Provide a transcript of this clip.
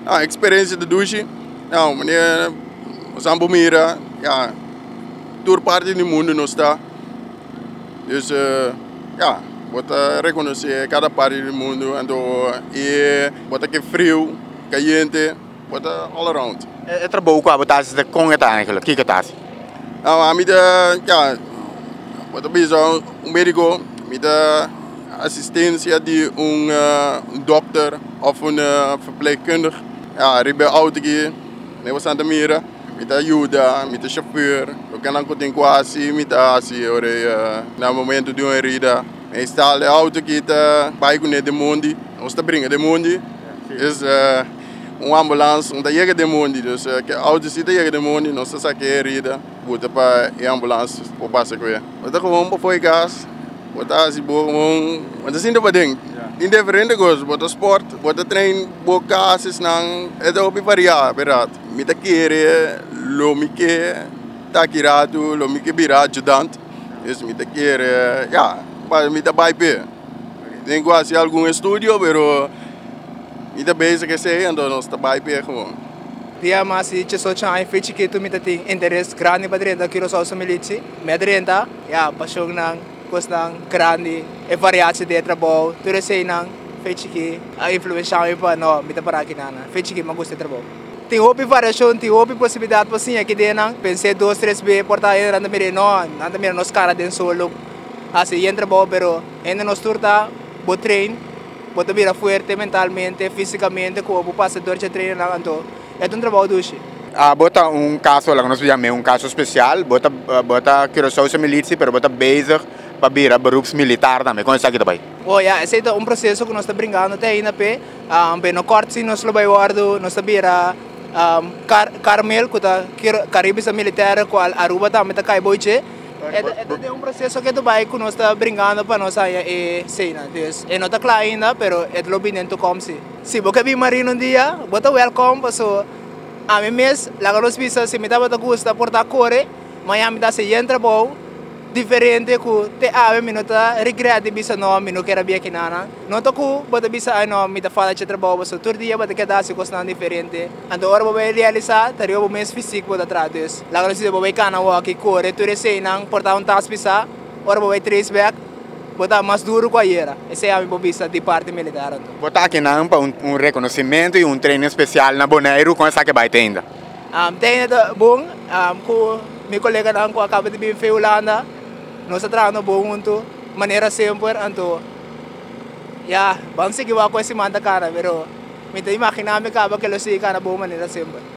Ah experencia di dushi ah mane asan bo mira ya tur parti di mundo nos ta dus ya bo ta reconoce cada parti di mundo anto e bo ta ke frio cayente bo ta all around. E trabou cu abo ta haci ta con e ta anhel? Kiko ta haci? ami ta ya bo ta bisa un mediko mi ta asistencia di un dokter of un verpleegkundig ya ariba e auto aki me basta ta mira mi ta yuda mi ta shofer loke nan ku tin ku hasi mi ta hasi ora na momento di un herida me instala e auto aki ta bai kuné den mondi nos ta bringa den mondi es. un ambulans un ta yega den mondi o sea ke auto si ta yega den mondi nos ta sake e herida buta pa e ambulans por pasa ku e. Bo ta koman pa poi gas bo ta hasi bo koman bo ta sinti paden tin diferente kos bo ta sport bo ta train bo ka hasi esnan e ta hopi varia ape rat mi ta kere lo mi ke taki ratu lo mi ke bira ajudan es mi ta kere ya mi ta bai p'e. Tin cu haci algun estudio pero mi ta bezig esey anto nos ta bay p'e gewoon. Dia mas di chesochan aña fi chikitu mi ta tin interes grandi pa drenta Curaçao su militsi. Mi a drenta, ya, pasionnan, cosnan grandi, e variatie di e trabou, tur eseynan fi chiki a influencia mi pa no, mi ta para aki nada. Fi chiki mi a gusta e trabou. Tin hopi variacion, tin hopi posibilidad pa siña aki den nan. Pens'é dos, tres be, por ta e nan ta mira e, no, nan ta mira nos cara den solo. hasi bien trabou pero hende nos tur ta bo train bo ta bira fuerte mentalmente fisikamente komo bo pasa dor dje trainennan anto e ta un trabou dushi. Abo ta un kaso laga nos yam'e un kaso spesial bo ta bo ta Curaçaose militsi pero bo ta bezig pa bira beroeps militar tambe kon esaki ta bai? Oh ya esei ta un proseso ku nos ta brinkando te ainda p'e p'e no kort si nos lo bai wòrdu nos ta bira kar karmel ku ta kir karibisa militèr kual Aruba tambe ta kai bou dje. E ta e ta den un proseso ke ta bai ku nos ta bringando pa nos haña e seinan. Dus e no ta kla ainda, pero e ta lo bin den tokom si. Si bo ke bin Marino un dia, bo ta wèlkòm, paso ami mes laga nos bisa si mi tabata gusta portá kore, mañana mi ta hasi yen trabou diferente ku te awe mi no ta rigrèt di bisa nò mi no keda bia aki nana. Nota ku bo ta bisa ai nò mi ta fala dje trabou, paso tur dia bo ta keda hasi kosnan diferente. Anto ora bo bai realisá ta riba bo mes fisik bo ta traha. Dus laga nos disidé bo bai kana wòki, kore, tur eseinan, portá un tas pisá. Ora bo bai treis bèk bo ta mas duru ku ayera. Esei ami por bista di parti militar anto. Bo ta akinan pa un rekonosimentu i un treinin spesial na Boneiru. Kon esaki bai teinda? Teinda ta bon. Ku mi koleganan ku a kaba di bin fen Hulanda nos a trahando bon huntu manera semper. Anto ya, ban sigui wak ku e siman ta kana pero. Mi ta imaginá mi kaba ke lo sigui kara bo manera semper.